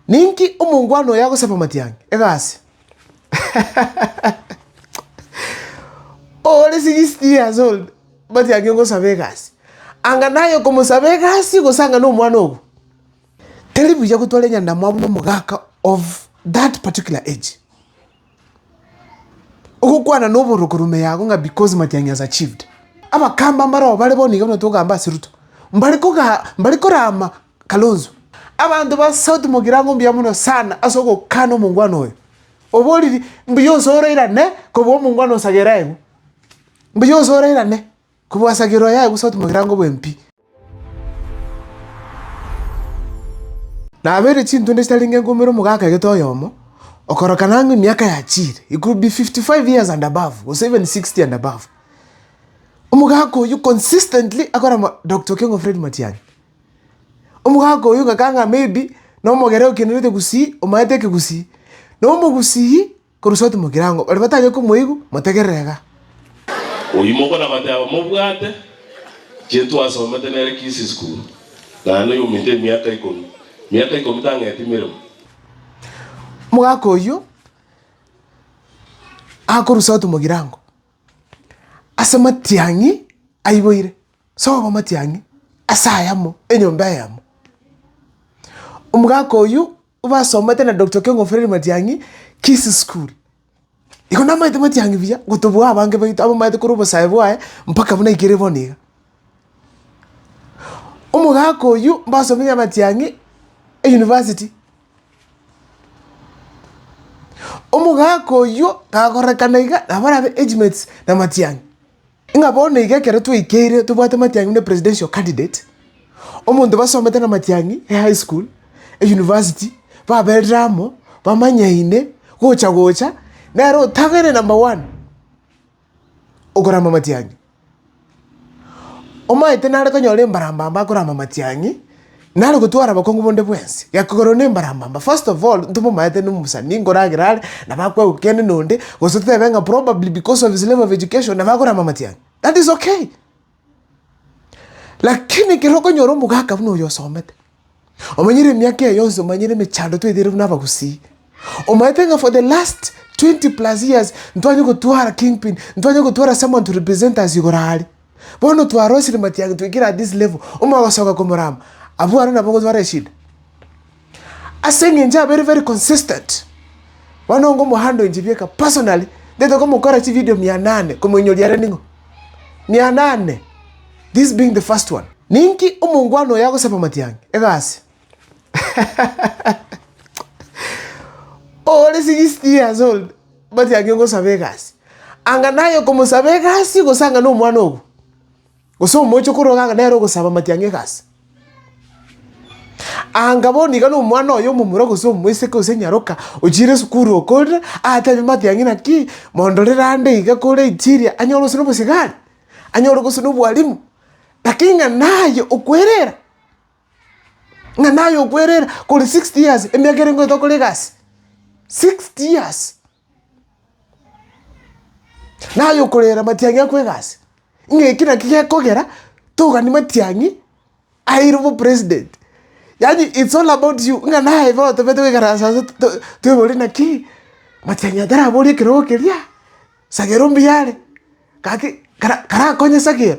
Ninki omongwana oyo agosaba matiang'i? Egasi. Ore 60 years old, matiang'i ogosaba egasi. Anga naye okomosaba egasi gose anga nomwana ogo. Teri buya gotwara enyandamwamu nomogaka of that particular age. Ogokwana noboroko rume yago ng'a because matiang'i has achieved. Abakamba mbare oo bare bono iga buna togamba ase Ruto, mbare koga mbare korama Kalonzo. Abanto ba South mogirango mbuya mono sana ase ogokana omongwana oyo. Oboriri mbuya ose orairane kobua omongwana ose agere aegwe. Mbuya ose orairane. Kobwasagera oyo aye gose otome egerango oboe mpi. Nabeire chintunde chitarenge nkombere omogaka egete oyomo, okorokana ang'e emiaka yachiire, he could be fifty five years and above gose even sixty and above. Omogaka oyio consistently akore Doctor Okengo Fred Matiang'i. Omogaka oyio ng'akana ng'a maybe nomogere okenerete gusii, omaete ekegusii. Na omogusii. Korwa iso timokire ang'o, baria batanyare komoigwa, motegerere iga. Oyio mokonabateba mobwate chie twasomete nere Kisii School, naende oyominto emiaka ikomi, miaka ikomi tang'eti miremo. Omogaka oyio akorusa timokire ang'o, ase matiang'i aiboire, sobo matiang'i ase ayamo, enyomba eyemo. Omogaka oyio. Basomete na Doctor Kiongo Fred Matiang'i Kisii School. Igo namaete Matiang'i buya gotobua abange baito abamaete korwa obosae bwaye mpaka buna ikere bono iga. Omogaka oywo mbasomete na Matiang'i University. Omogaka oywo kagorekana iga nabo arabe age mates na Matiang'i. Ng'a bono iga ekero twaikeire tobwate matiang'i buna epresidential candidate, omonto basomete namatiang'i ehigh school, eyunivasiti, baberire amo, bamanyaine, gocha gocha, nere otang'aine number one okorama matiang'i. Omaete nare konyora embarambamba akorama matiang'i. Nare gotwara bokongu bonde bwensi, gekogorwa nembarambamba. First of all, ntomomaete nomosani nkoragera are, nabo akwegwa kende nonde, gose totebe ng'a probably because of his level of education, nabo akorama amatiang'i. That is okay. Lakini ekero okonyora omogaka buna oyo osomete, omanyire emiaka eye yonsi, omanyire emechando tweteire buna abagusii, omaete ng'a for the last 20 plus years, ntwanye gotwara kingpin, ntwanye gotwara someone to represent us igoro are. Bono twarosire matiang'i twaikire at this level, omoyo ogosoka komorama, abwo aro nabo ogotwara eshida. Ase eng'encho abere very consistent. Bono onga omohandle nchibieka personally, ntaete komokora chividio mia nane komoinyoria are ning'o? Mia nane, this being the first one. Ninki omongwana oyo agosaba matiang'i? Egasi. Ore sixty years old. Bati ang'e ngosaba egasi. Anga naye okomosaba egasi gose anga nomwana obo. Gose omoche okoroga anga nere ogosaba mati ang'e egasi. Anga bono iga nomwana oyo omomura gose omoiseke gose nyaroka ochire esukuru okorire atebi mati ang'e naki mondorere ande iga kore inchiria anyore gose nobosigari, anyore gose nobwalimu. Lakini ng'a naye okwerera Ng'a naye okwerera kore 60 years, emiaka ere ngoeta okore egasi, 60 years! Naye okorera matiang'i akwe egasi, ng'a eki naki gekogera togani matiang'i airwe bo president. Yaani it's all about you, ng'a naye iga otobete goikaransa ase to- to- toibori naki, matiang'i atarabori ekerogo keria, sagera mbuyare, gaki kara- karakonye sagera.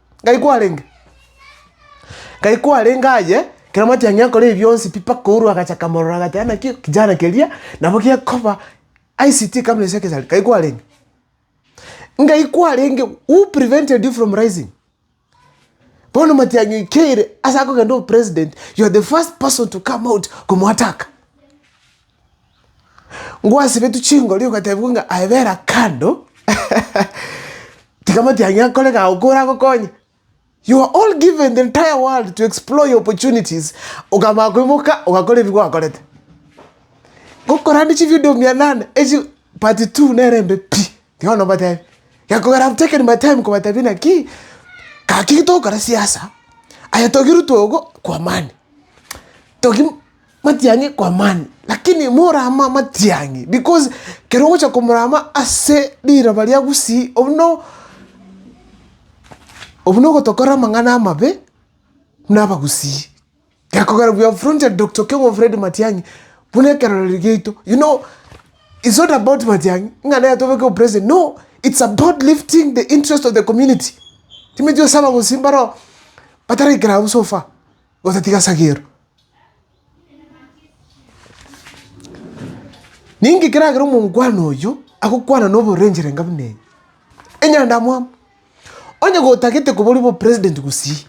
Ngai kwarenge? Ngai kwarenge aye, ekero amanyete ng'a nkore ebi bionsi pi, mpaka ourwa agacha akamorora agateba naki kijana keria nabo gekoba ICT company secretary, Ngai kwarenge? Ngai kwarenge, who prevented you from rising? Bono matiang'i oikeire ase akogenda obopresident, you are the first person to come out komo attack. Ngwasibetwe chingori ogatebigwa ng'a aye bera kando tiga amatiang'i akore gao koragokonye. You are all given the entire world to explore your opportunities okamanya koimoka ogakora ebi gwakorete. Gokorande chivideo mia nane echi part two nere embe pi tiga bono mbatebi. Gekogera I have taken my time kobatebi naki gaki togokora siasa aye togirwe twogo kwa amani togi. matiang'i kw'amani, lakini morama matiang'i, because kero ogocha komorama ase riroba ria gusii, obwo no obwo nogotokorera amang'ana amabe buna abagusii. Gekogera we have fronted Doctor Okeng'o Fred Matiang'i buna ekerorero giaito, you know it's not about Matiang'i ng'a nere tobeke opresident, no it's about lifting the interest of the community, timanyeti gose abagusii mbaro bataraikera abwo so far, gose tiga sagero. Ninki keragere omongwana oyo agokwana noborenchori enga buna eye? Enyandamwamu! Onye gotagete koba ore bopresident gusii,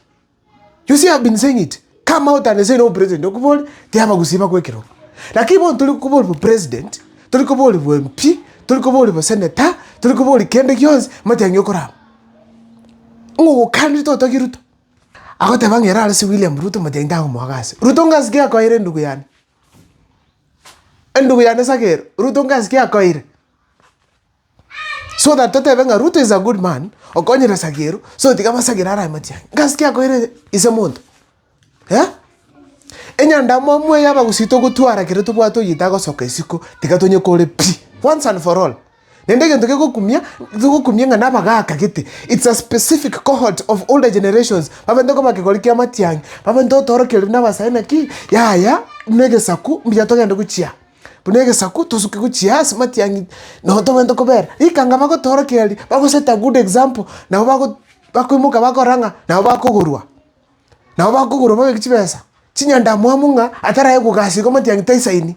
you see I have been saying it, come out and say no president okobore tiyaba gusii bagoekerwa. Lakini bono tori koba ore bopresident, tori koba ore boMP, tori koba ore bosenator, tori koba ore kende gionsi, matiang'e okorama. Ng'o ogokanire totogire Ruto? Agoteba ng'a erare ase William Ruto mati aye takomoaka ase. Ruto ngasi ki akoeire endugu yane? Endugu yane Sakeero, Ruto ngasi ki akoeire? So that totebe ng'a Ruto is a good man okonyire Sakeero so tiga basagere are amache aye. Ngasi ki akoeire ise monto? Eh? Enyandamwamu eye abagusii togotwara ekero tobwate oyio tagosoka isiko tiga tonyekore pi! Once and for all. Naende egento kegokumia, togokumia ng'a nabagaaka gete, it's a specific cohort of older generations, babaete koba kegori kia amatiang'i, babaete gotoorokereri na abasae naki, yaya buna egesaku mbuya togende gochia, buna egesaku tosuke gochia ase amatiang'i nabo tobaete kobera, rikanga bagotoorokereri, bagoseti a good example, nabo bago bakoimoka bakora ng'a nabo bakogorwa, nabo bakogorwa babe chibesa, chinyandamwamu ng'a atarae kogasi iga amatiang'i taisaini.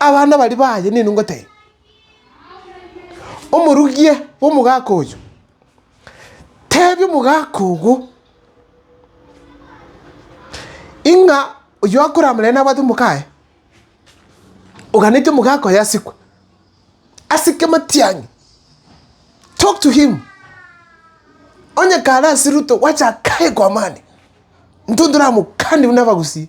Abana baria baye nigo ngotebia, omorugia bw'omogaka oyo, tebia omogaka ogo, ing'a oyio akorama naye nabwate omoka aye, oganetie omogaka oyo asikwe, asike amatiang'i, talk to him, onye kare ase ruto, gwacha kaye kwa amani, intwe toramokanie buna abagusii.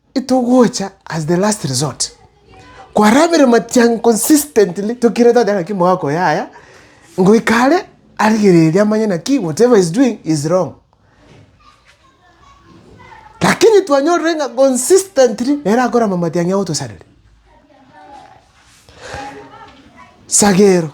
Togocha as the last resort, kwarabire matiang'a consistently tokirete goteeba ng'aki mogokora yaya, ngoika are arigererie amanye naki whatever he's doing is wrong. Lakini twanyorire ng'a consistently nere akorama matiang'a agotosareri. Sagero.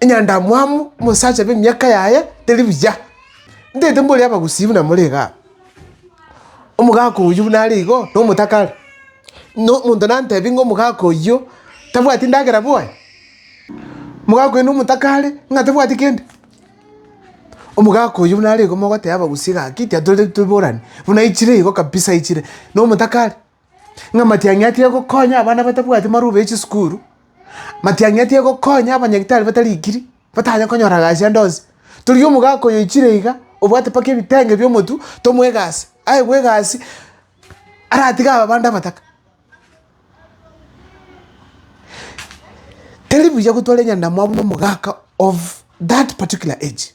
enyandamwamu omosacha bw'emiaka yaye teri buya, ntaete mbori abagusii buna more igaa. Omogaka oyio buna are igo na omotaka are, na omonto nantebi ng'a omogaka oyio tabwati endagera bwoye, omogaka oyio na omotaka are ng'a tabwati kende. Omogaka oyio buna are igo mogoteba abagusii gaki tiatoreti toborane, buna aichire igo kabisa aichire na omotaka are. ng'a matiang'i atige gokonya abana batabwati marube ya chisukuru, matiang'i atige gokonya abanyagitari batarikiri, batanye konyora gasi ande onsi. Torokia omogaka oyo oichire iga, obwate mpaka ebitenge bi'omotu, tomoe egasi, aegwe egasi aratige aba bande abataka. Tari buya gotwara enyandamwamu na omogaka of that particular age.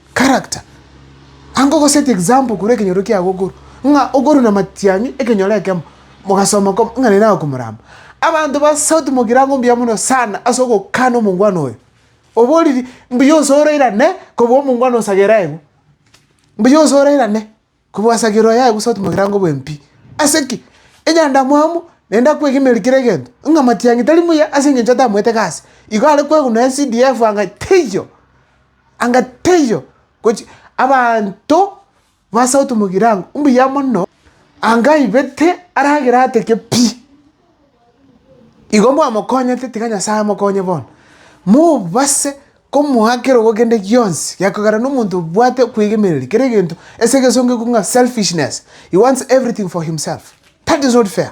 Character. Anga ogoset example korwa ekenyoro kiago okoru, ng'a okoru na matiang'i ekenyoro ekemo, mogasoma koma ng'a naende agokomorama. Abanto ba sauti mokirango mbuya mono sana ase ogokana omongwana oyo. Oboriri mbuya ose orairane kobua omongwana ose agere aigwe. Mbuya ose orairane. Kobwasakera oyo aye gosootima egerango bw'empi. Ase ki? Enyandamwamu naende akwegeneri kera egento, ng'a Matiang'i tari muya ase engencho atamoete gasi. Igo are kwegunwa ase CDF anga teiyo, anga teiyo, gochi abanto basootima egerango mbuya mono, anga aibete aragere ateke pi. Igo mwamokonyete tiga Nyasae amokonye bono, mobase. Komoa kerogo kende gionsi gekogera nomonto obwate okwegemereria kera egento ase egesongo iko ng'a selfishness, he wants everything for himself. That is not fair.